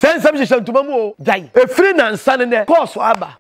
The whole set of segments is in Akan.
Sɛ nsɛm hyehyɛ ntoma mu o, gyae. Ɛfiri nnansa ne nnɛ, kɔɔ so aba.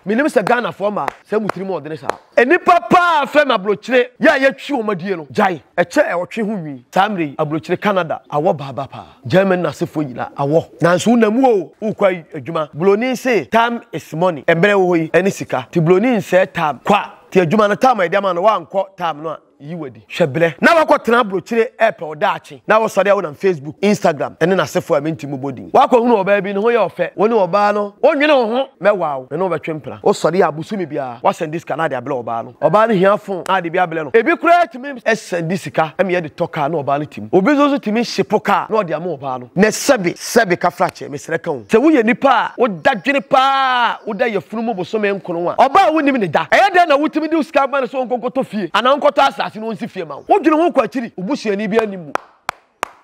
Menim sɛ Ghanafoɔ mmaa, sɛ mo tirim ɔdene saa. Nnipa pa ara frɛ no aburokyire, yɛ a yɛtwi wɔn adie no, gyae. Ɛkyɛ ɛwɔtwe ho nwi. Saa mmerɛ yi, aburokyire Canada awɔ ba aba pa ara. Germany no asefoɔ nyinaa awɔ. Nanso wonam mu o, wokɔ ayi adwuma. Buroni se time is money, mmerɛ ɛwɔ hɔ yi ne sika. Nti buroni nsɛɛ time, kwa. Nti adwuma no, time a yɛde ama no, wankɔ time no a. yi wo adi. Hwɛ berɛ. Na woakɔtena abrokyire repɛ wo daakye, na wosɔre a wonam Facebook, Instagram ne n'asefoɔ a mente mu bɔ din. Woakɔhunu ɔbaa bi, ne ho yɛ ɔfɛ, wo ne ɔbaa no, wonwene wo ho, mɛwaa wo, me ne wo bɛtwe mpena. Wosɔre a bosome biara, woasɛnde sika na ade abrɛ ɔbaa no. Ɔbaa no hia fon na ade bi abrɛ no. Ebi koraa tumi sɛnde sika ma yɛde tɔ kaa na ɔbaa no te mu. Obi nso nso tumi hye po kaa na ɔde ama ɔbaa no. Nɛ sɛbe, sɛbe ka frakyɛ. Mesrɛ ka o. Sɛ woyɛ nipa a woda dwene paa a woda yafunu mu bosome nkron a ɔbaa a wonnim ne da. Ɛyɛ dɛn na wotumi de wo sika ma no sɛ ɔnkɔ nkɔtɔ fie anaa ɔnkɔtɔ asase na ɔnsi fie ma wo. Wodwene ho kɔ akyiri. Wo busuani biara nnim mu.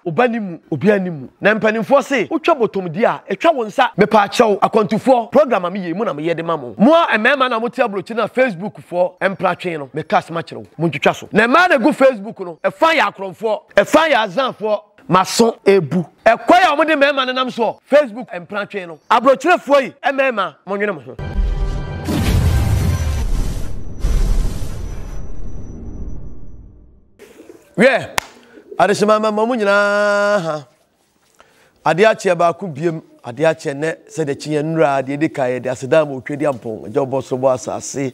Wo ba nnim mu. Obiara nnim mu. Na mpanimfoɔ se wotwa bɔtɔm di a, ɛtwa wo nsa. Mepaa kyɛw, akwantufoɔ, program a meyɛ yi, mo na meyɛ de ma mo. Mo a mmarima na mote aburokyire no a Facebook foɔ mpra twen no, meka asɛm akyerɛ wo. Montwitwa so. Na mmaa na ɛgu Facebook no, ɛfã yɛ akorɔmfoɔ, ɛfã yɛ azanfoɔ, M'aso rebu. Ɛkwan a wɔde mmarima nenam so wɔ Facebook mprantwe no. Aburokyerɛfoɔ yi mmarima monwene mo ho. Wiɛ, adehyemma mmarima mo nyinaa ha. Adeɛ akyeɛ baako biam. Ade akye nnɛ, sɛdeɛ kyeneɛ nnora deɛ ɛdi kan, yɛde aseda ma Otwadiampɔn, Agya Ɔbɔ Soro Bɔ Asase,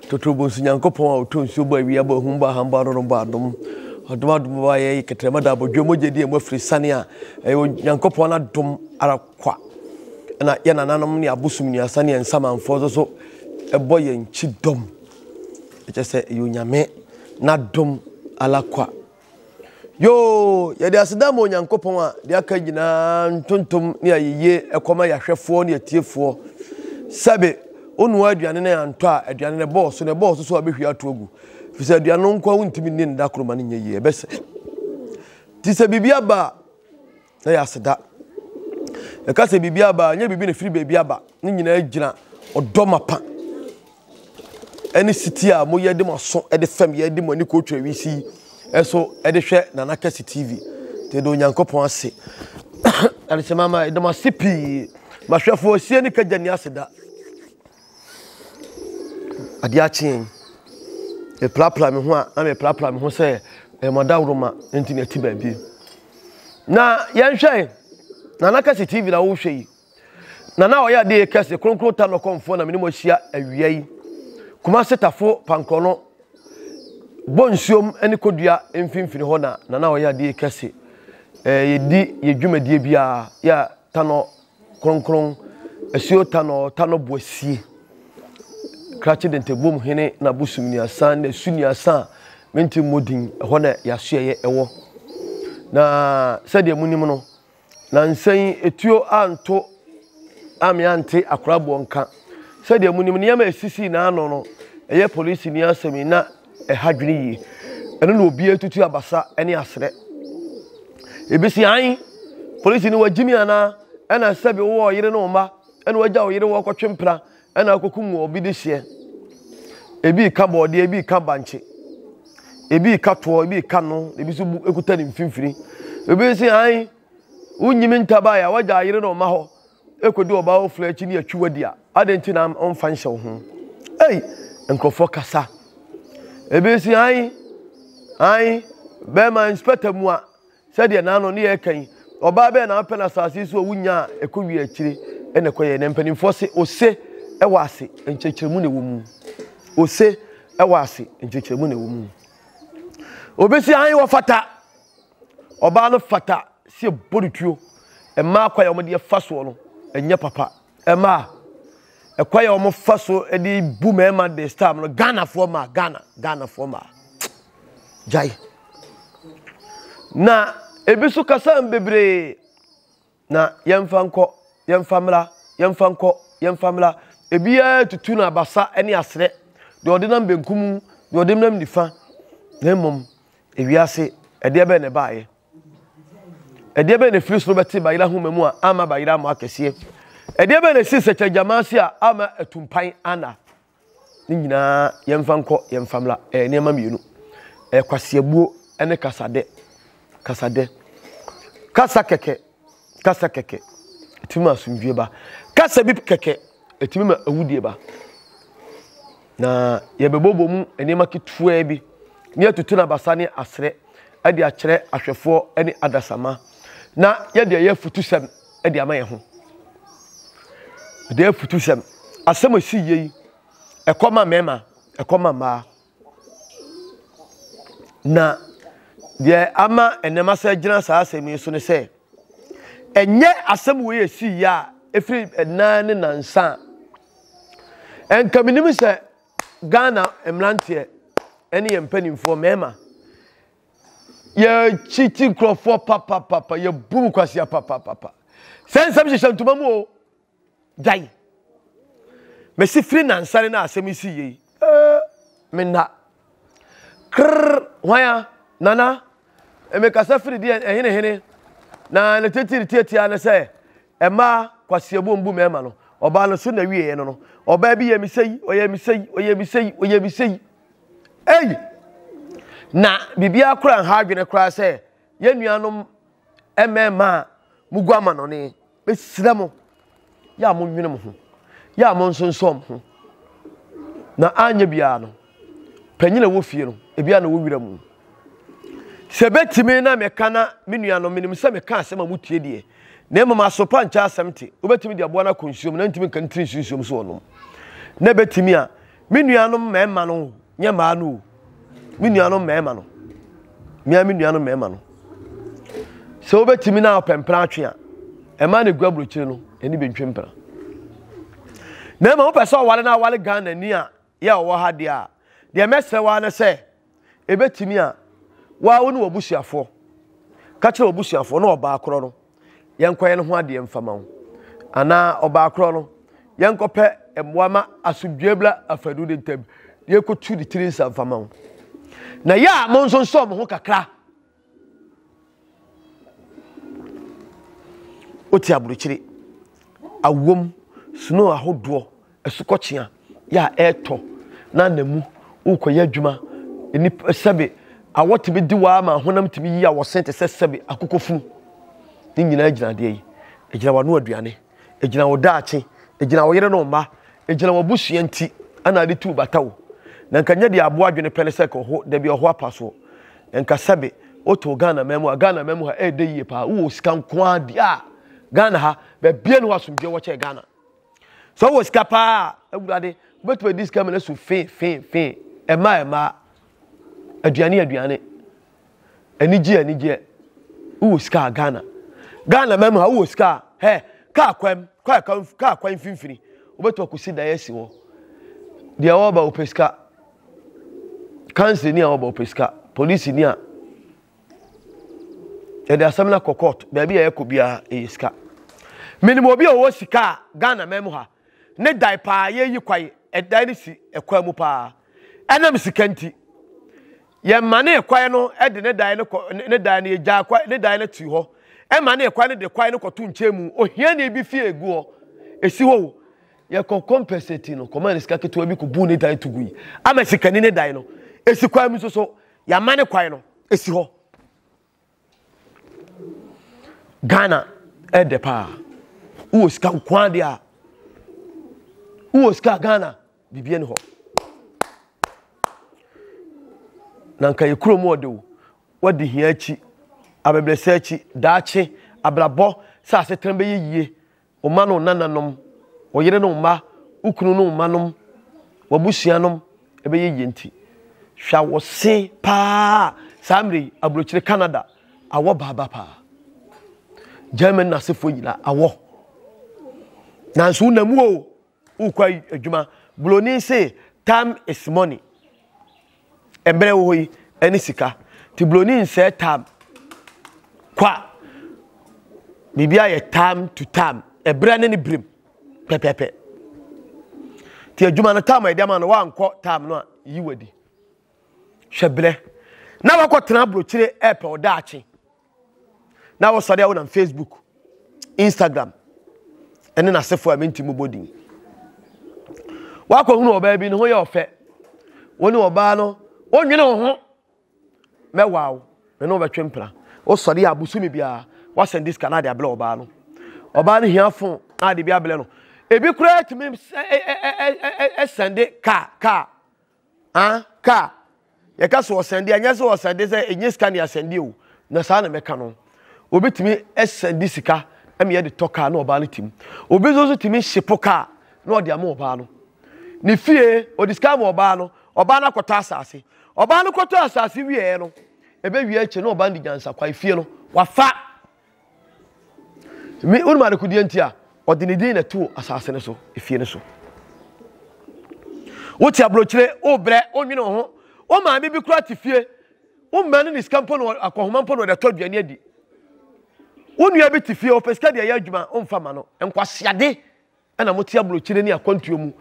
Totoro Bonsu Nyankopɔn a Ɔtɔ Nsuo Bɔ Awia Bɔ Ahum Bɔ Aham Bɔ Adɔdɔm Bɔ Adom, Ɔdom Adom Bɔ Ayɛyi Kɛtrɛma Da Abodwoɔ Mogya Di Amu Afiri Sane a ɛyɛ Onyankopɔn adom ara kwa na yɛn nananom ne abosom nnuasa ne yɛn nsamanfoɔ nso so bɔ yɛn kyidɔm, ɛkyɛ sɛ ɛyɛ Onyame n'adom ara kwa. Yoo, yɛde aseda ma Onyankopɔn a deɛ aka nyinaa ntontom ne ayeyie ɛkɔma yɛahwɛfoɔ ne atiefoɔ. Sɛbe, wonoa aduane no antɔ a, aduane no bɔɔ so, na ɛbɔɔ so so a wobɛhwie ato agu. Ɛfiri sɛ aduane no nko a wontumi nni no da koro ma no nyɛ yie, ɛbɛsɛ. Nti sɛ biribi aba a, na yɛ aseda. Yɛka sɛ biribi aba a, ɛnyɛ biribi na ɛfiri baabi aba. Ne nyinaa gyina ɔdɔ mapa ne setie a moyɛ de mo aso de fam yɛ de mo ani kɔtwa wiase yi ɛso de hwɛ Nana Kɛse TV. Nti yɛde Onyankopɔn ase. Adehyemama, yɛde mo ase pii. Mahwɛfoɔ, sie ne kagya ni aseda. Adeɛ akye yɛn. Mepirapira me ho a, na mepirapira me ho sɛ ɛyɛ mo adaworoma nti na ɛte baabi. Na yɛnhwɛ Nana Kɛse TV na wohwɛ yi. Nana a ɔyɛ adeɛ kɛse kronkron ta no kɔmfoɔ na mene mo ahyia awia yi. Kumase tafo pankorɔ no bɔ nsuom ne kodua mfimfini hɔ na Nana a ɔyɛ adeɛ kɛse. Eh, yɛdi yɛ dwumadie biara yɛ ta no Kronkron, asuo tanɔ, tanɔ bo asie, krakye dentɛbom hene na bosom niasa na su niasa a mente mmɔ din, ɛhɔ na yasoɛyɛ ɛwɔ. Na sɛdeɛ monim no, na nsɛn etuo anto a me ante akoraboɔ nka. Sɛdeɛ monim, nneɛma a ɛsisii n'ano no, ɛyɛ polisini asɛm yi na Ɛha adwene yie. Ɛno na obiara tutu abasa ne aserɛ. Ebesi ae? Polisi no wagyimi anaa? Ɛna sɛbi wowɔ ɔyere ne wo mma ɛna wagya wo yere wɔ kɔtwe mpena ɛna akɔkum wɔ obi de hyeɛ. Ebi reka bɔɔdeɛ, ebi reka bankye, ebi reka toɔ, ebi reka no, ebi nso kuta ne mfimfini. Ebi si ae? Wonyimi ntabae a wagya ayere ne ɔma hɔ. ɛkɔdu ɔbaa ɔfunu akyi ne atwi wadi a adɛn nti na ɔmfa nhyɛ wo ho ei nkurɔfoɔ kasa ebi si han han bɛrima inspector mu a sɛdeɛ naano ne yɛ kan ɔbaa bɛɛ na apɛ no asase so a wonya a ɛkɔ wie akyire ɛna ɛkɔ yɛ na mpanimfoɔ se ose ɛwɔ ase nkyerɛkyerɛmu na ɛwɔ mu ose ɛwɔ ase nkyerɛkyerɛmu na ɛwɔ mu obi si han wɔfata Ɔbaa no fata sɛ yɛbɔ no tuo. Mmaa kwan a wɔde fa soɔ no, ɛnyɛ papa. Mmaa, ɛkwan a wɔfa so de bu mmarima this time no, Ghanafoɔ mmaa, Ghana, Ghanafoɔ mmaa, gyae. Na ebi nso kasa bebree. Na yɛmfa nkɔ, yɛmfa mmra, yɛmfa nkɔ, yɛmfa mmra. Ebiara tutu no abasa ne aserɛ, deɛ ɔde nam benkum, deɛ ɔde nam nifa. Na mmom, ewiase, ɛdeɛ bɛn na ɛbaeɛ? Ɛdeɛ bɛn na ɛfiri soro bɛte bayerɛ ahoma mu a amma bayerɛ ammɔ akɛseɛ? Ɛdeɛ bɛn na ɛsii sɛkyɛrɛgyamase a amma atumpan anna? Ne nyinaa yɛmfa nkɔ yɛn fa mmra. Ɛyɛ nneɛma mmienu. Ɛyɛ kwaseabuo ne kasadɛ. Kasadɛ. Kasa kɛkɛ. Kasa kɛkɛ. Ɛtumi ma asomdwie ba. Kasa bi kɛkɛ. Ɛtumi ma awudie ba. Na yɛbɛbɔbɔ mu nneɛma ketewa bi ne yɛtutu no abasa ne aserɛ de akyerɛ ahwɛfoɔ ne adasama. Na yɛde ɛyɛ afutusɛm. de ama yɛn ho. Mede afutu sɛm, asɛm a ɛsi yie yi, ɛkɔ ma mmarima, ɛkɔ ma mmaa. Na deɛ ama nneɛma sɛ gyina saa asɛm yi so ne sɛ, ɛnyɛ asɛm wei ɛsi yie a ɛfiri ɛnan ne nansa a ɛnka menim sɛ ghana mmeranteɛ ɛne yɛn mpanimfoɔ mmarima Yɛkyiti nkurɔfoɔ papapapa, yɛbu mu kwasea papapapa. Sɛ nsɛm hyehyɛ ntoma mu o, gyae. Mesi firi nansane na asɛm yi si yie yi. Ee, me nna. Krrr, hwan a? Nana, mekasa firi deɛ ɛhenehene na ne titiri tiatia ne sɛ mmaa kwasea bu mbu mmarima no. Ɔbaa no so na wieɛ no no, ɔbaa bi yɛ me sɛ yi, ɔyɛ me sɛ yi, ɔyɛ me sɛ yi, ɔyɛ me sɛ yi. Ei! Na biribiara koraa nha adwene koraa sɛ yɛn nuanom mmarima a mugu amanɔne. Mesrɛ mo, yɛ a monnwene mo ho, yɛ a monsonsɔ mo ho. Na anyɛ biara no, panyin a ɛwɔ fie no, ebi a na ɛwɔ wira mu. Sɛ ebetumi na meka na me nuanom, menim sɛ meka asɛm a mutie deɛ, na mmom asopa nkyɛ asɛm te, wobetumi de aboa no akɔ nsuom na ntumi nka ne tiri nso nsuom so ɔnom. Na ebetumi a, Me nuanom mmarima no o, nyɛ mmaa no o. Me nuanom mmarima no. Mmea me nuanom mmarima no. Sɛ wobɛtumi na ɔpɛ mpena atwe a, ɛma ne gu aburokyire no, ɛni bɛntwe mpena. Na mmom wopɛ sɛ ɔwale na awale Ghana ni a yɛ ɔwɔ ha deɛ a, deɛ mɛsrɛ waa ne sɛ, Ebetumi a wo ara wo ne w'abusuafoɔ ka kyerɛ w'abusuafoɔ na ɔbaa korɔ no yɛnkɔyɛ no ho adeɛ mfama wo anaa ɔbaa korɔ no yɛnkɔpɛ mmoa ma asomdwoeɛ bla afanu ne ntam yɛkɔtu ne tiri nsa mfama wo na yɛ a monsonsɔ mo ho kakra Wote aburokyire, awom, snow ahodoɔ, asukɔkyea yɛ a ɛretɔ na anamu wokɔyɛ adwuma. Nnipa sɛbe awɔ tumi di waa ma honam tumi yi awɔsen te sɛ sɛbe akokɔfunu. Ne nyinaa gyina adeɛ yi. Ɛgyina w'ano aduane. Egyina wo daakye, egyina wo yere ne wo mma, egyina w'abusua nti na ade tu bata o. Na nka nyɛ deɛ aboa adwene pɛ ne sɛ ka ɔho, dabi ɔho apa soɔ. Na nka sɛbe wotoo Ghana man mu a, Ghana man mu ha ɛyɛ dɛ yie paa, wowɔ sika nko ara deɛ a, Ghana ha, baabiara nni hɔ a asomdwoeɛ wɔ kyɛn Ghana. Sɛ wowɔ sika paa a, awurade, wobɛtumi adi sika ma no asu fee fee fee, ɛmma ɛmma, aduane aduane. Anigye anigye wowɔ sika a Ghana. Ghana mɛmu ha wowɔ sika a hɛ kaa kwan kaa kwan kaa kwan mfimfini wobɛtɔ akɔsi dan asi hɔ. Deɛ ɔreba wopɛ sika. Kansa ni a ɔreba wopɛ sika. Polisi ni a yɛde asɛm no akɔ court baabi a yɛkɔ biara ɛyɛ sika. Menim obi a ɔwɔ sika a Ghana mɛmu ha ne dan paa yɛyi kwae ɛdan no si ɛkwan mu paa ɛnam sika nti Yɛmanee kwae no de ne dae no kɔ ne dae no yegyaa kwae ne dae no too hɔ ɛmanee kwae no de kwae no kɔto nkyɛn mu ohiani bi fie egu hɔ esi hɔ o yɛkɔ kɔmpɛsɛti no kɔmaa ne sika ketewa bi kɔbuu ne dae to gui ama sikani ne dae no esi kwae mu nso so yɛamane kwae no esi hɔ. Ghana ɛdɛ paa. Wowɔ sika nkoa deɛ a. Wowɔ sika Ghana biribiara ni hɔ. Na nka yɛ kurom ɔde wo. Wadi hia akyi, abɛbrɛsɛ akyi, daakye, abrabɔ sɛ asetena bɛyɛ yie. wo mma ne wo nananom, wo yere ne wo mma, wo kunu ne wo mma nom, w'abusua nom ɛbɛyɛ yie nti, hwɛ a wɔ se paa saa mmerɛ yi aburokyire Canada awɔ baa ba paa. Germany n'asefoɔ nyinaa awɔ. Nanso wo na mu o. Wokɔ adwuma. Buroni se time is money. Mmerɛ wɔ hɔ yi ɛne sika. Nti buroni nsɛɛ time. Kwa. Biribi ayɛ time to time. Ɛberɛ ne ne berɛm. Pɛpɛpɛ. Nti adwuma no time a ɛde ama no wankɔ time no a yi wadi. Hwɛ berɛ. Na wakɔtena aburokyire ɛɛpɛ ɔdaakye. na wɔsɔre a wonam facebook instagram ɛne n'asefo a menti mu bɔ din wakɔhunu ɔbaa bi ne ho yɛ ɔfɛ wo ne ɔbaa no wonwene wo ho mɛwaa wo me ne wobɛtwe mpena wosɔre a bosome biara woasɛn diska na ade abrɛ ɔbaa no ɔbaa no hia fo na ade bi abrɛ no ebi koraa tumi sɛnde kaa kaa Ah, car. Yɛka sɛ ɔsɛnde a, ɛnyɛ sɛ ɔsɛnde sɛ ɛnyɛ sika ne asɛnde o, na saa na mɛka no. Obi tumi sɛnde sika ma yɛde tɔ car na ɔbaa no tim. Obi nso nso tumi hyepo car na ɔde ama ɔbaa no. Ne fie, ɔde sika ama ɔbaa no, ɔbaa no akɔtɔ asase. Ɔbaa no kɔtɔ asase wieɛ no, ɛbɛwie akyire na ɔbaa no de nyansakwan fie no, wafa. Me wonim adekodeɛ nti a ɔde ne din na ɛtoo asase no so efie no so wote aburokyire wobrɛ wonwene wo ho wo maame bi kora te fie wo mma no ne sika mpo no akɔhoma mpo no ɔde tɔ aduane adi wo nua bi te fie ɔpɛ sika deɛ ɛyɛ adwuma womfa ma no nkwaseade ɛna mo te aburokyire ne akwantuo mu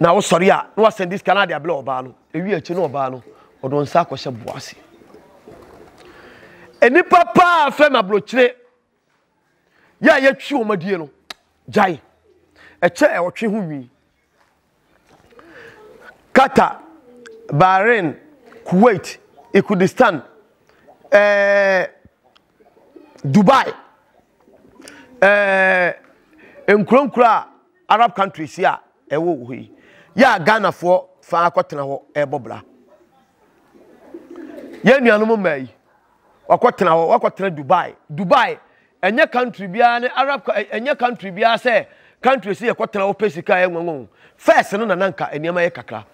na wosɔre a na wasɛn de sika no ade abela ɔbaa no ewi akyi na ɔbaa no ɔde nsa akɔhyɛ boa ase nnipa paa fɛ na aburokyire yɛ a yɛtwi wɔn adie no gyae ɛkyɛ ɛwɔtwe ho nwi Qatar, Bahrain, Kuwait, Ikudistan, eh, Dubai, eh, nkuronkuro a Arab countries a ɛwɔ hɔ yi, yɛ a Ghanafoɔ fa akɔtena hɔ ɛrebɔ bra. Yɛn nuanom mmaa yi, wakɔtena hɔ, wakɔtena Dubai. Dubai ɛnyɛ country biara ne arab ɛnyɛ country biara sɛ country si yɛkɔ tena wɔpɛ sika yɛ nwanwa o first no na nanka nneɛma yɛ kakra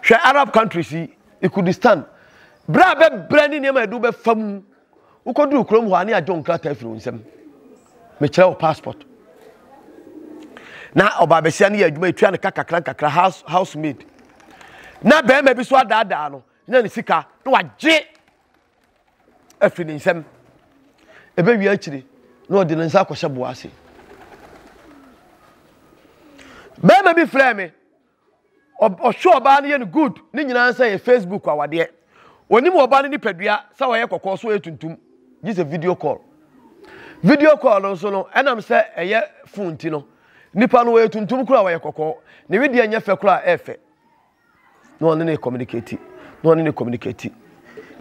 hwɛ arab country si ikudistan bere a bɛbrɛ ne nneɛma yɛde wobɛfa mu wokɔduru kurom hɔ a ne agye wo nkrataa firi wo nsam mekyerɛ wo passport na ɔbaabasia no yɛ adwuma ɛtua ne ka kakra nkakra house housemaid na bɛrima bi so adaadaa no na ne sika na wagye afi ne nsam. Ɛbɛwie akyiri na ɔde ne nsa akɔhyɛ boa ase. Bɛrima bi frɛɛ me, ɔhwɛ ɔbaa no yɛ no good, ne nyinaa sɛ yɛ Facebook awadeɛ. Onim ɔbaa no nipadua sɛ ɔyɛ kɔkɔɔ so ɔyɛ tuntum, gye sɛ video call. Video call no nso no, ɛnam sɛ ɛyɛ phone ti no, nipa no ɔyɛ tuntum koraa ɔyɛ kɔkɔɔ, ne wedeɛ nyɛ fɛ koraa ɛɛfɛ. na ɔne ne communicate na ɔne ne communicate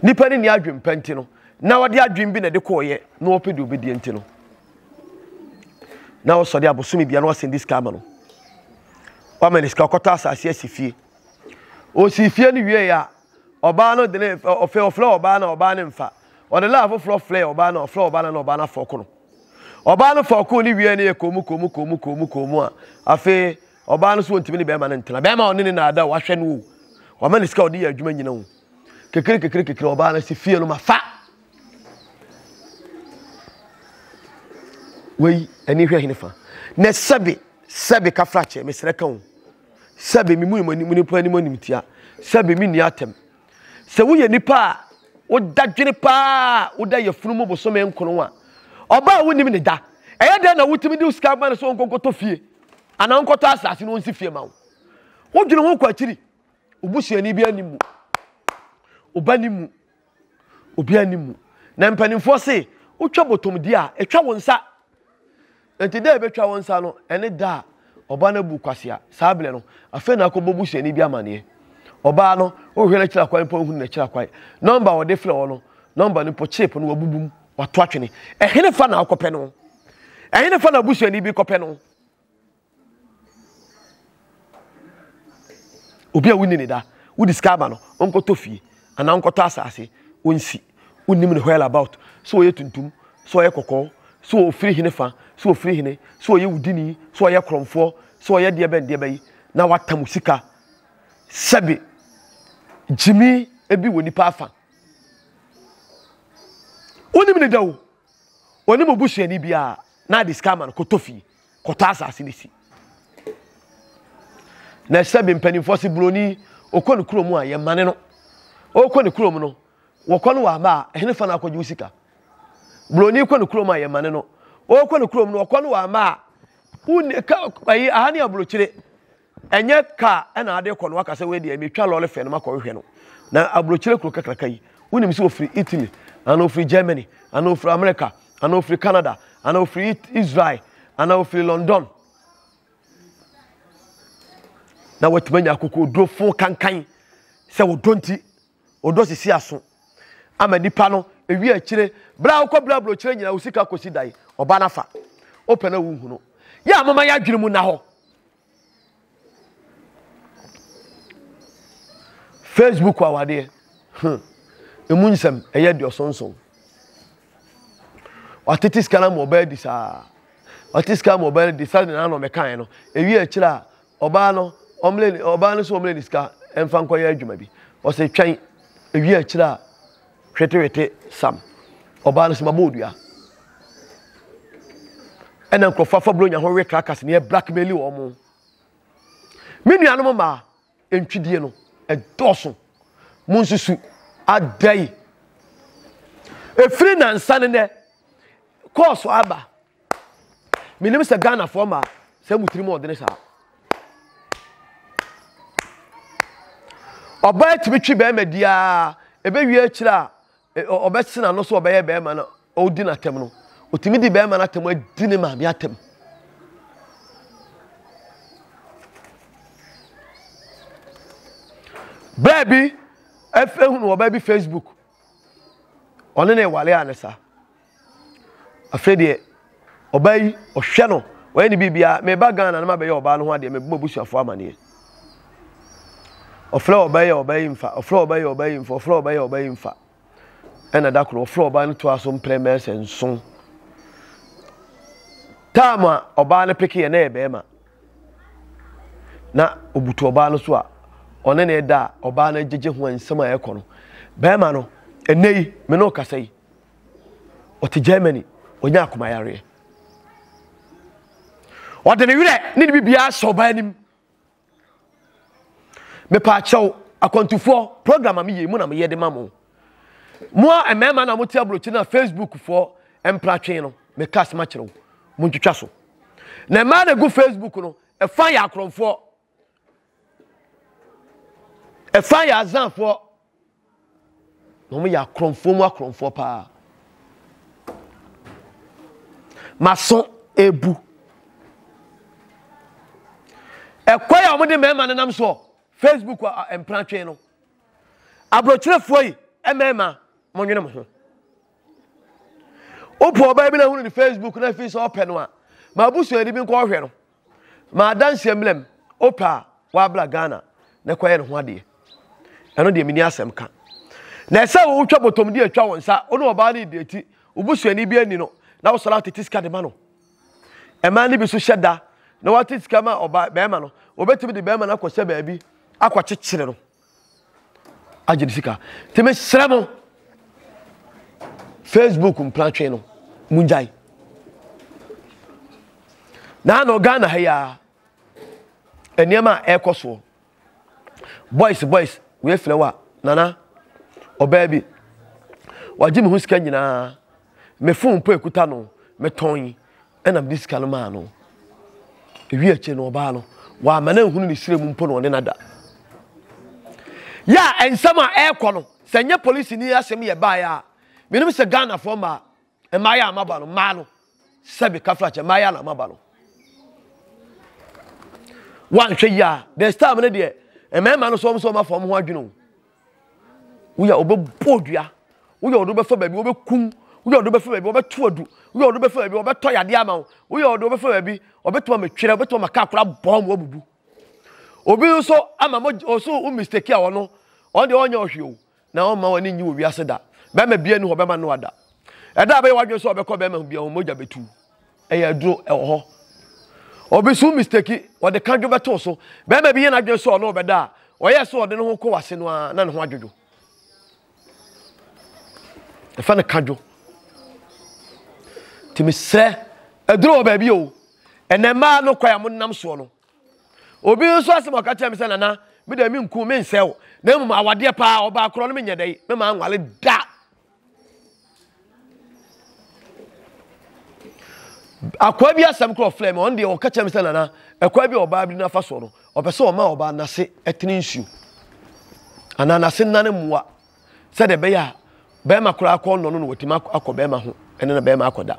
nipa ne ni adwene pa nti no na ɔde adwene bi na ɛde kɔɔyɛ na ɔpɛ deɛ ɔbɛdie nti no na ɔsɔre abosome bia na ɔsɛn de sika ama no wama ne sika ɔkɔtɔ asase asi fie ɔsi fie no wie a ɔbaa no de ne ɔfɛ ɔflɛ ɔbaa na ɔbaa ne mfa ɔde laa foforɔ flɛ ɔbaa na ɔflɛ ɔbaa na na ɔbaa no afɔ ko no ɔbaa no fɔ ko ne wie ne yɛ kɔmu kɔmu kɔmu kɔmu kɔmu a afei Ɔbaa no so ɔntumi ne bɛrima no ntena. Bɛrima a ɔne ne na ada o, wahwɛ no o, wama ne sika a ɔde yɛ adwuma nyina o. Kekere kekere kekere ɔbaa no si fie no ma fa. Wei ani hwɛ hene fa. Na sɛbe sɛbe ka fra kyɛ mesrɛ ka o. Sɛbe me mu mu anim nipa anim anim tia. Sɛbe me ni atam. Sɛ woyɛ nipa a woda dwene paa woda yɛ funu mu bosome nkono a ɔbaa wonim ne da. Ɛyɛ dɛn na wotumi de sika ma no so nkonkoto fie. Anaa ɔnkɔtɔ asase na ɔnsi fie ma wo. Wodwene ho kɔ akyiri. Wo busuani bi anim mu. Wo ba nim mu. Obi anim mu. Na mpanimfoɔ se, wotwa bɔtɔmdi a, ɛtwa wo nsa. Enti da a ɛbɛtwa wo nsa no, ɛne da a ɔbaa no abu kwasea. Saa berɛ no, afei na akɔbɔ busuani bi amaneɛ. Ɔbaa no, wohwɛ n'akyiri akwan mpo a, wohunu n'akyiri akwan. Nɔmba a wɔde frɛ wo no, nɔmba no mpo, chip no, wabubu mu. Wato atwene. Ɛhene fa na akɔpɛ no. Ɛhene fa na abusuani bi kɔpɛ no. Obi a wonni ne da, wodi sika ama no, ɔnkɔtɔ fie anaa ɔnkɔtɔ asase, ɔnsi. Wonnim ne hɔɛl about. So ɔyɛ tuntum, so ɔyɛ kɔkɔɔ, so ɔfiri hene fa, so ɔfiri hene, so ɔyɛ wudini, so ɔyɛ korɔmfoɔ, so ɔyɛ deɛ bɛn deɛ bɛyi, na wata mu sika. Sɛbe gyimi ebi wɔ nipa afan. wonim ne da o wɔne mo busuani biara na ade sika ama no kɔtɔ fie kɔtɔ asase no si na ɛsɛ bi mpanimfoɔ se buroni ɔkɔ ne kurom a yɛmane no ɔkɔ ne kurom no wɔkɔ no wɔ aba a ɛhene fa no akɔgye wo sika buroni kɔ ne kurom a yɛmane no ɔkɔ ne kurom no wɔkɔ no wɔ aba a wonni ka ayi aha ne aburokyire Ɛnyɛ car na ade kɔ na waka sɛ wei deɛ metwa lɔre fɛ no makɔhwehwɛ no. Na aburokyire kuro kakraka yi, wonim sɛ ofiri Italy, anaa ofiri Germany, anaa ofiri America, anaa ofiri Canada, anaa ofiri Israel, anaa ofiri London. Na watumi anya akokoɔdurofo kankan sɛ ɔdɔ nti. Ɔdɔ sisi aso ama nipa no ewie akyire bere a wokɔ bere aburokyire nyinaa wo sika kɔsi dan ɔbaa no afa wopɛ na wonhu no yɛ a moma yɛ adwene mu nna hɔ facebook awadeɛ hmm. emu nsɛm ɛyɛ deɛ ɔsonson watete sika no ma ɔbaa di saa ɔte sika ma ɔbaa no di saa na ano mɛkaeɛ no ewie akyire a Ɔbaa no ɔmmerɛ ne ɔbaa no sɛ ɔmmerɛ ne sika mfa nkɔyɛ adwuma bi. Ɔsɛ twɛn ewie akyire a hwetewete sam. Ɔbaa no sɛ ma bɔɔ dua. Ɛna nkurɔfoɔ afa buronya ho we krakas ne blackmail wɔn mo. Me nuanom mmaa ntwidie no ɛdɔɔso. Mo nsusu adɛn? Efiri nansa ne nɛ kɔɔso aba menim sɛ ghanafoɔ ma sɛ mu tirim ɔdene saa ɔbaa tumi twe bɛrima diaa ɛbɛwie akyirɛ a ɔbɛsena no so ɔbɛyɛ bɛrima no ɔdi no atɛm no ɔtumi di bɛrima no atɛm adi ne maame atɛm bɛɛ bi ɛfɛ hunu ɔbaa bi facebook ɔne ne wale a ne saa Afei deɛ ɔbaa yi ɔhwɛ no ɔyɛ ne biribiara meba Ghana na mabɛyɛ ɔbaa no ho adeɛ mebɔ abusuafoɔ amaneɛ ɔfrɛ ɔbaa yi a ɔbaa yi mfa ɔfrɛ ɔbaa yi a ɔbaa yi mfa ɔfrɛ ɔbaa yi a ɔbaa yi mfa ɛna da koro ɔfrɛ ɔbaa no to aso mprɛ mɛsɛ nson taam a ɔbaa no peke yɛ na yɛ bɛrima na obutu ɔbaa no so a ɔne ne da a ɔbaa no agyegye ho nsɛm a ɛkɔ no bɛrima no ɛnɛ yi me ne ɔkasa yi ɔte germany ɔnya akoma yareɛ ɔde ne werɛ ne ne biribiara hyɛ ɔbaa anim mepaakyɛw akwantufoɔ program a meyɛ mu na meyɛ de ma mo mo a mmarima na mote aburokyi na facebook foɔ mpratwe no meka asɛm akyerɛ wo montwitwa so na mmaa na gu facebook no ɛfa yɛ akorɔmfoɔ Ɛfa yɛ azanfoɔ na wɔn yɛ akorɔmfoɔ mu akorɔmfoɔ paa. Maso ebu. Ɛkwa yɛ wɔn de mmarima no nam soɔ Facebook mpratwe no. Aburokyerefoɔ yi mmarima mo nwene mo ho. Wopɔ ɔbaa bi na ehunu ne Facebook na efi sɛ ɔpɛ no a, ma abusuani bi nkɔ ɔhwɛ no. Ma adanseɛ mmra mu. Wopɛ a, w'abra Ghana na kɔyɛ ne ho adeɛ. Ɛno deɛ menni asɛm ka. Na ɛsɛ wo wotwa bɔtɔm di atwa wo nsa, wo ne ɔbaa no redate, wo busuani bi anni no, na wosɔre atete sika de ma no. Mmaa no bi nso hyɛ da na wɔate sika ma ɔbaa, bɛrima no. Wɔbɛtumi de bɛrima no akɔhyɛ baabi akɔkyekyere no. agye ne sika nti mesrɛ mo facebook mpratwe no mungyae na na ghana ha yi a nneɛma a ɛrekɔ soɔ boys boys wei filɛ wa nana ɔbaa bi wagye me ho sika nyinaa me fon mpo ekuta no metɔn Ɛna mede sika no maa no. Ewi akyire no ɔbaa no, wamma no anhunu ne srɛ mu mpo na ɔne no ada. Yɛ a nsɛm a ɛrekɔ no, sɛ nyɛ polisini yi asɛm yɛ baeɛ a, menim sɛ Ghanafoɔ mmaa, mmaayɛ a maba no, mmaa no, sɛbe kafrakyɛ, mmaayɛ na maba no. Wanhwɛ yi a, this time no deɛ, mmarima no so wɔn so wɔn afa wɔn ho adwene o. Woyɛ a wɔbɛbɔ odua. Woyɛ a wɔde wobɛfa baabi wɔbɛkum. Woyɛ a wɔde wobɛfa baabi wɔbɛto adu. Woyɛ a wɔde wobɛfa baabi wɔbɛtɔ yadeɛ ama wo. Woyɛ a wɔde wobɛfa baabi wɔbɛtumi amatwerɛ, wɔbɛtumi ama kaa koraa bɔn mu abubu. Obi nso ama mo ɔso wo mistake a ɔno ɔno deɛ ɔnyɛ ɔhwe o na ɔmma w'ani nyi wɔ wiase da. Bɛrima bia ni hɔ bɛma no ada. Ɛda a bɛyɛ w'adwene sɛ ɔbɛkɔ bɛrima ho bia ho mogya bɛtu. ɛyɛ aduro ɛwɔ hɔ obi so mistake wɔde ka dwo bɛto so bɛrima bi yɛ n'adwene sɛ ɔno ɔbɛda a ɔyɛ sɛ ɔde ne ho kɔ wase no ara na ne ho adwodwo ɛfa no ka dwo nti mesrɛ aduro wɔ baabi o ɛnɛ mmaa no kwan a monam soɔ no obi nso asɛm ɔka kyerɛ me sɛ nana meda menku mensɛ wo na mmom awadeɛ paa ɔbaa korɔ no menyɛ dɛ mema nwale da akoa bi asɛm korɔ ɔfrɛ me ɔno deɛ ɔka kyerɛ me sɛ nana akoa bi a ɔbaa bi nafa soɔ no ɔpɛ sɛ ɔma ɔbaa nase ɛtene nsuo anaa nase nane mmoa sɛdeɛ ɛbɛyɛ a bɛrima koraa akɔ nnɔ no na watumi akɔ bɛrima ho ɛne na bɛrima akɔda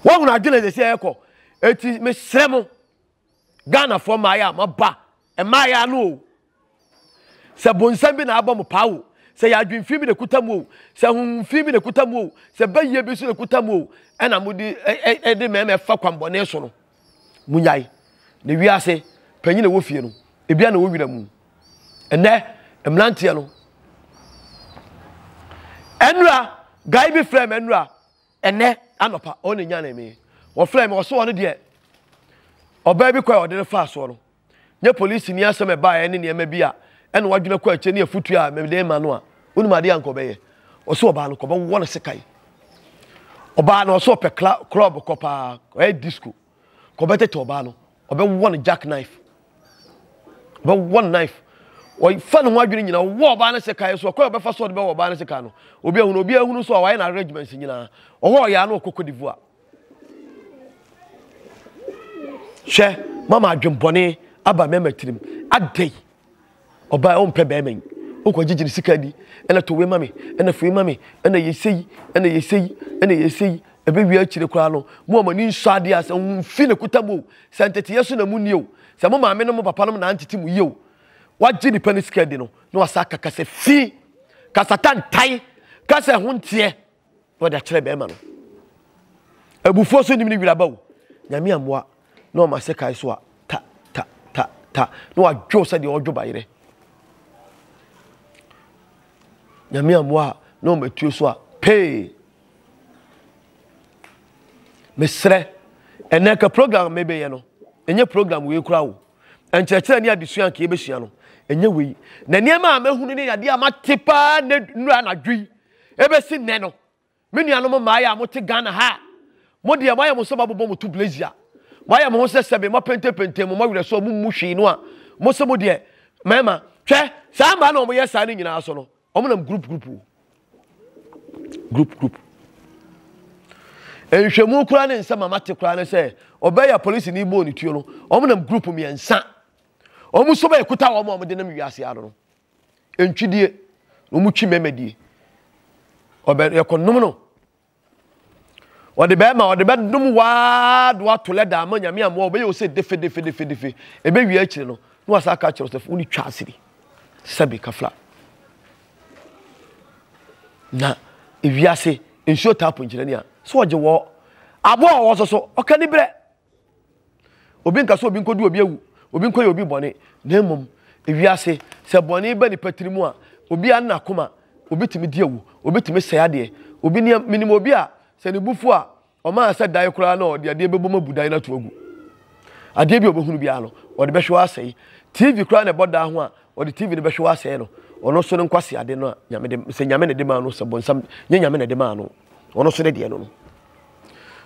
woahunu adwene sɛ sɛ ɛkɔ ɛti mesrɛ mo ghanafoɔ mmaayɛ a moaba mmaayɛ ano o sɛ bonsam bi na abɔ mo paa o sɛ yɛ adwemfii bi na ɛkuta mu o sɛ honhomfii bi na ɛkuta mu o sɛ bɛyie bi so na ɛkuta mu o ɛna mode ɛde mmarima ɛfa kwambɔne so no munyae na wiase panyin na ɛwɔ fie no ebia na ɛwɔ wira mu ɛnɛ mmeranteɛ no ɛnura guy bi frɛ me ɛnura Ɛnnɛ anɔpa ɔno na nyanee me. Wɔfrɛɛ me, wɔse ɔno deɛ ɔbaa bi kwan a ɔde no faa soɔ no, nyɛ polisini asɛm a ɛbaeɛ ne nneɛma bi a ɛna wadwene akɔ akyire ne afotuo a mede rema no a, wonim adeɛ a anka ɔbɛyɛ? Ɔse ɔbaa no, kɔbɛwɔ no sekan. Ɔbaa no, ɔse ɔpɛ kla, klɔb kɔ paa, ɔyɛ disko. nka ɔbɛtete ɔbaa no ɔbɛwɔ no jack knife ɔbɛwɔ no knife ɔfa ne ho adwene nyinaa ɔwɔ ɔbaa no sekan so ɔkɔ ɔbɛfa so ɔde bɛwɔ ɔbaa no sekan no obi ahunu obi ahunu so a wayɛ no arrangements nyinaa ɔwɔ ɔyɛ ano ɔkɔ kodivoa hwɛ mama adwembɔne aba mɛma tirim adɛn Ɔbaa yi ɔmpɛ bɛrima yi. Wokɔ gyegye ne sika ni. Ɛna to wei ma me. Ɛna fei ma me. Ɛna yɛ sei. Ɛna yɛ sei. Ɛna yɛ sei. Ɛbɛ wie akyire koraa no. Mo a mo ani nsɔ adeɛ a sɛ mo nfi ne kuta mu o. Sɛ nteteɛ so na mo nni o. Sɛ mo maame nom mo papa nom na antete mo yie o. Wagye nipa ne sika adi no na wasan aka kasa fi. Kasa tantan. Kasa ɛho nteɛ. na ɔde akyerɛ bɛrima no abufuo so nim ne wira ba o nyame amoa na ɔma sɛ kae so a ta ta ta ta na wadwo sɛ deɛ ɔdwo bayerɛ nyame amoa na ɔma atuo so a pee mesrɛ ɛnɛ ka program mebɛyɛ no ɛnyɛ program wei kora o nkyerɛkyerɛ ne adesua nka yɛbɛsua no ɛnyɛ wei na nneɛma a mahunu ne yadeɛ a mate paa nnura anadwo yi Ebesi nnɛ no, me nuanom mmaeɛ a mote Ghana ha a, mo deɛ moayɛ mo sɛ moabobɔ mo tublesi a moayɛ mo ho sɛ sɛbe moapentepente mo mowerɛ so a mommu hwee no a mo se mo deɛ mmarima hwɛ saa mmaa no a wɔyɛ saa no nyinaa so no wɔn nam group group o group group nhwɛmu koraa ne nsɛm a mate koraa ne sɛ ɔbɛyɛ polisi ne bɔɔ ne tuo no wɔn nam group mmiɛnsa wɔn so bɛyɛ kuta wɔn a wɔde nam wiase ano no ntwidie na wɔn twi mɛmɛ die ɔbɛ yɛkɔ nom no ɔde bɛrima ɔde bɛdom waa do ato lɛ daa ama nyame amoa ɔbɛyɛ ɔsɛ defe defe defe defe ebe wie akyire no na wasa aka kyerɛ sɛ wɔn twa asiri sɛbi kafla na ewiase nsuo taapo nkyerɛ ni a so ɔgye wɔ aboa ɔwɔ so so ɔka ni brɛ. Obi nka sɛ obi nkɔdi obi awu, obi nkɔyɛ obi bɔne, na mmom ewiase sɛ bɔne ba nipa tiri mu a, obi a nna akoma, obi tumi di awu, obi tumi sɛe adeɛ. Obi nea menim obi a sɛ ne bu fo a, ɔmaa sɛ dan koraa na ɔde adeɛ bɛbom abu dan no ato agu. Adeɛ bi a ɔbɛhunu biara no, ɔde bɛhwe asɛe. TV koraa na ɛbɔ dan ho a, ɔde TV no bɛhwe asɛe no. Ɔno nso ne nkwaseade no a nyame de, sɛ nyame na ɛde maa no, sɛ bɔnsam nyɛ nyame na ɛde maa no, ɔno nso ne deɛ no no.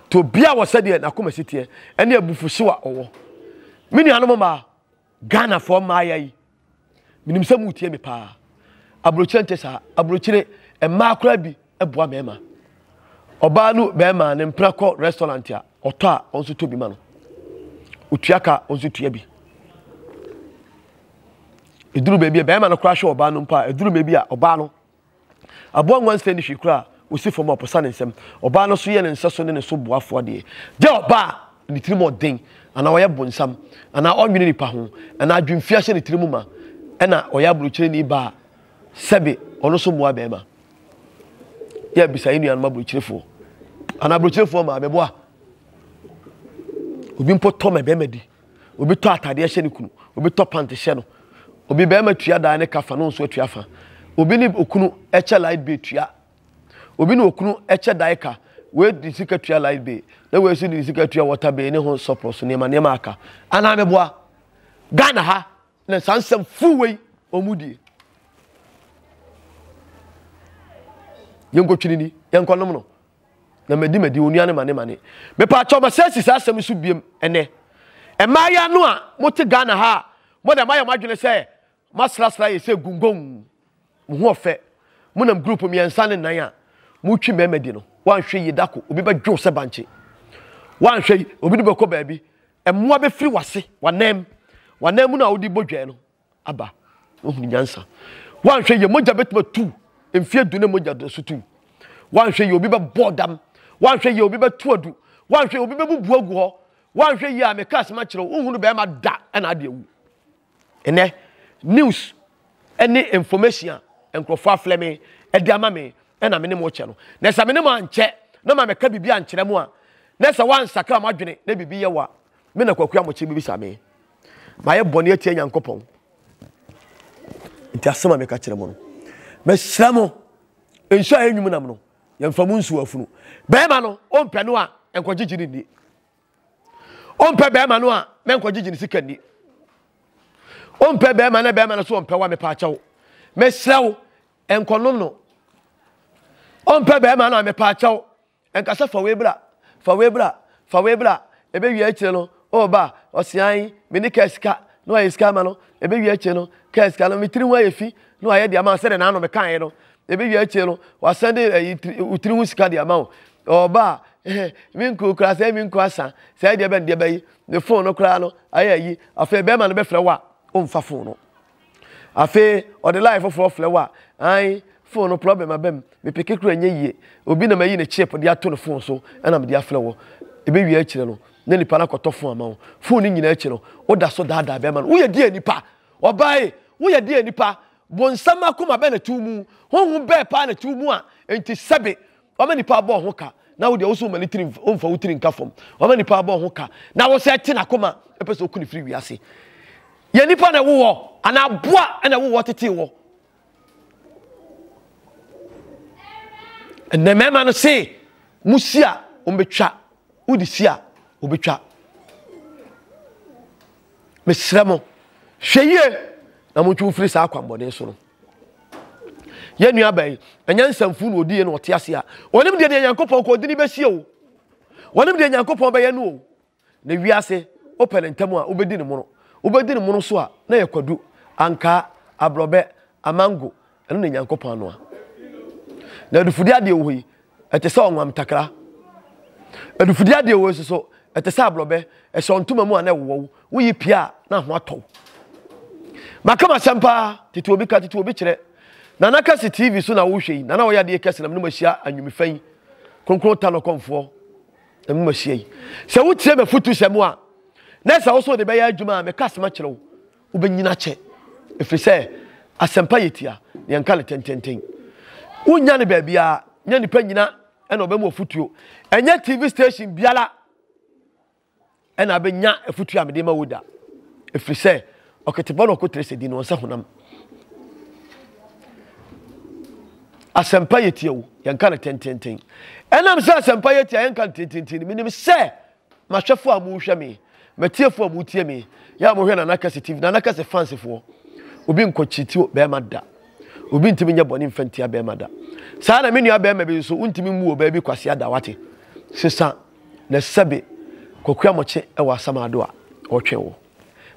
nti obiara wɔ sɛdeɛ n'akoma si teɛ ɛne abufuhyew a ɔwɔ me nuanom mmaa ghanafoɔ mmaaya yi menim sɛ motie me paa aburokyire nte saa aburokyire mmaa koraa bi boa mmarima ɔbaa no bɛrima ne mpena kɔ restaurant a ɔtɔ a ɔno nso tɔ bi ma no otua ka ɔno nso tua bi eduru baabi a bɛrima no koraa hwɛ ɔbaa no mpo a eduru baabi a ɔbaa no Aboa nguan sɛɛ ne hwii koraa osi fam a ɔposa ne nsam. Ɔbaa no so yɛ ne nsɛso ne ne so boafoɔ adeɛ. Gyɛ ɔbaa a ne tirim ɔden anaa ɔyɛ bonsam anaa ɔnnwene nnipa ho anaa adwemfie ahyɛ ne tirim ma ɛna ɔyɛ aburokyereni baa sɛbe ɔno so mmoa barima. Yɛ abisa yɛn nuanom aburokyerefoɔ anaa aburokyerefoɔ maa mɛboa. Obi mpo tɔ mɛ barima di. obi tɔ atadeɛ hyɛ ne kunu obi tɔ pant hyɛ no obi bɛrima tua dan ne ka fa na nso atua fa obi ne okunu ɛkyɛ light bill tua obi ne okunu ɛkyɛ dan ka wei de sika tua light bill na wei nso de sika tua water bill ne ho sɔpɔrɔ so nneɛma nneɛma aka anaa meboa ghana ha na saa nsɛm fuu wei wɔn die yɛnkɔtwiri ni yɛnkɔnom no na madi madi onua ne mane mane mepa akyɛw ma sɛ si saa asɛm no so biem ɛnɛ mmaayɛ no a mote Ghana ha a mo na mayɛ mo adwene sɛ masrasra yɛ sɛ gungong mo ho ɔfɛ mo nam group mmiɛnsa ne nan a motwi mmarima di no wanhwɛ yie dako obi bɛdwo sɛ bankye wanhwɛ yi obi de bɛkɔ baabi mmoa bɛfiri wase wanam wanam mu no a wode bɔ dwaa no aba. Woahunu nyansa. Woanhwɛ yie, mogya bɛtumi atu mfeɛ du ne mogya do so tu. Woanhwɛ yie, obi bɛbɔ dam. Woanhwɛ yie, obi bɛto adu. Woanhwɛ yie, obi bɛbubu agu hɔ. Woanhwɛ yie a meka asɛm akyerɛ wo, wohunu bɛrima da ɛna ade awu. Ɛnɛ, news ne information a nkurɔfoɔ aflɛ me de ama me ɛna me ne mo kyɛ no. Na sɛ me ne mo ankyɛ na ma mɛka biribi ankyerɛ mo a, na sɛ woansakra mo adwene na biribi yɛ wo a, me na Kwaku Amokyere bɛbisa me. Mayɛ bɔne atia Nyankopɔn. Nti asɛm a meka kyerɛ mo no, mesrɛ mo, nsu a ɛyɛ nwum nam no, yɛmfa mu nsu afunu. Bɛrima no, ɔmpɛ no a, nkɔgyegye no nni. Ɔmpɛ bɛrima no a, mɛnkɔgyegye no sika nni. Ɔmpɛ bɛrima na bɛrima no so ɔmpɛ wo a, mepa akyɛw. Mesrɛ wo, nkɔnom no. Ɔmpɛ bɛrima no a, mepa akyɛw. Ɛnka sɛ, Fa wei bra, fa wei bra, fa wei bra, ɛbɛwie akyire no, Oh ba, ɔseae, me ne kaa sika, na wayɛ sika ama no, ɛbɛwie akyire no, kaa sika no, me tiri ho ayɛ fi, na wayɛ de ama wo sɛdeɛ n'ano mekaeɛ no, ɛbɛwie akyire no, wasɛnde ayi, wo tiri ho sika de ama wo. Oh ba, me nkuro koraa sɛ me nkuro asa, sɛ ɛdeɛ bɛn deɛ bɛyi, me fon no koraa no ayɛ ayi, afei bɛrima no bɛfrɛ wo a, womfa fon no. Afei ɔde line foforɔ frɛ wo a, ae, phone no problem aba mu, me peke koraa ɛnyɛ yie, obi na mayi ne chip de ato ne phone so na mede afrɛ wo. Ɛbɛwie akyire no, na nipa no akɔtɔ phone ama wo. Phone no nyinaa akyi no, woda so daadaa bɛrima no. Woyɛ deɛn nipa? Ɔbaa ei, woyɛ deɛn nipa? Bonsam akoma bɛn na ɛte wo mu? Honhom bɛn paa na ɛte wo mu a enti sɛbe Wama nipa abɔ wo ho ka, na wo deɛ wo so woma ne tiri womfa wo tiri nka fam. Wama nipa abɔ wo ho ka, na wo sɛ te n'akoma pɛ sɛ oku ne firi wiase. Yɛ nipa na ɛwowɔ anaa aboa na ɛwowɔ tetee wɔ. Ɛnna mmarima no se, mo si a wɔbɛtwa, wode si a wɔbɛtwa. Mesrɛ mo, hwɛ yie na montwe wo firi saa akwammɔne so no. yɛn nua bɛn ɛnyɛ nsɛmfo na ɔdi yɛ na ɔte ase a wɔnim deɛ deɛ nyankopɔn kɔ ɔde ne bɛsie o wɔnim deɛ nyankopɔn bɛyɛ no o na wiase wopɛ ne ntam a wobɛdi ne mono wobɛdi ne mono so a na yɛ kwadu ankaa aborɔbɛ amango ɛno na nyankopɔn anoa na adufudi adeɛ wɔ hɔ yi ɛte sɛ ɔnwam takra. Adufudie adeɛ wɔ nso so, ɛte sɛ aborɔbɛ, ɛhyɛ ntoma mu a na ɛwowɔ wo, woyi pie a na ho atɔ wo. Maka m'asɛm paa, tete obi ka, tete obi kyerɛ. Nana Kɛse TV so na wohwɛ yi, nana ɔyɛ adeɛ kɛse na menom ahyia anwumfa yi, kronkron ta no kɔmfoɔ, na menom ahyia yi. Sɛ wotie m'afutusɛm a, na ɛsɛ wo so wode bɛyɛ adwuma a meka asɛm akyerɛ wo. Wobɛnyini akyɛ, ɛfiri sɛ asɛmpa yɛ tia, na yɛnka no tententen. Wonnya no baabiara, nyɛ nnipa nyina na wɔbɛma ɔfotuo. Ɛnyɛ TV station biara na abɛnya afotuo a mede ma wo da, ɛfiri sɛ ɔketebɔ na ɔkotere sɛ din no ɔnsɛ honam. Asɛmpa yɛ tia o, yɛnka no tententen. Ɛnam sɛ asɛmpa yɛ tia, yɛnka no tententen. Menim sɛ M'ahwɛfoɔ a mohwɛ me, m'atiefoɔ a motie me, yɛ a mohwɛ Nana Kɛse TV, Nana Kɛse fansefoɔ, obi nkɔ akyiri ti bɛrima da. Obi ntumi nyɛ bɔne mfa ntia bɛrima da. Saa na me nua bɛrima bi nso, wontumi mmu ɔbaa bi kwasea da wate. Sesa na sɛbe Kwakua Mɔkye wɔ Asamaado a, ɔretwɛn wo.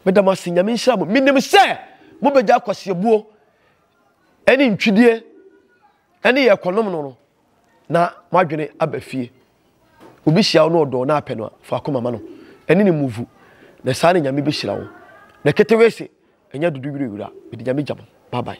Meda mo ase, Nyame nhyira mo. Menim sɛ mobɛgya akwaseabuo ne ntwidie ne yɛ kɔnom no no. na wadwene aba fie. Obi hyia wo na ɔdɔ na apɛ no a, fa akoma ma no. Ɛne ne muvu. Na saa ne Nyame bɛhyira wo. Na ketewe se, ɛnyɛ dodo wirewira. Mede Nyame gya mo. Bye bye.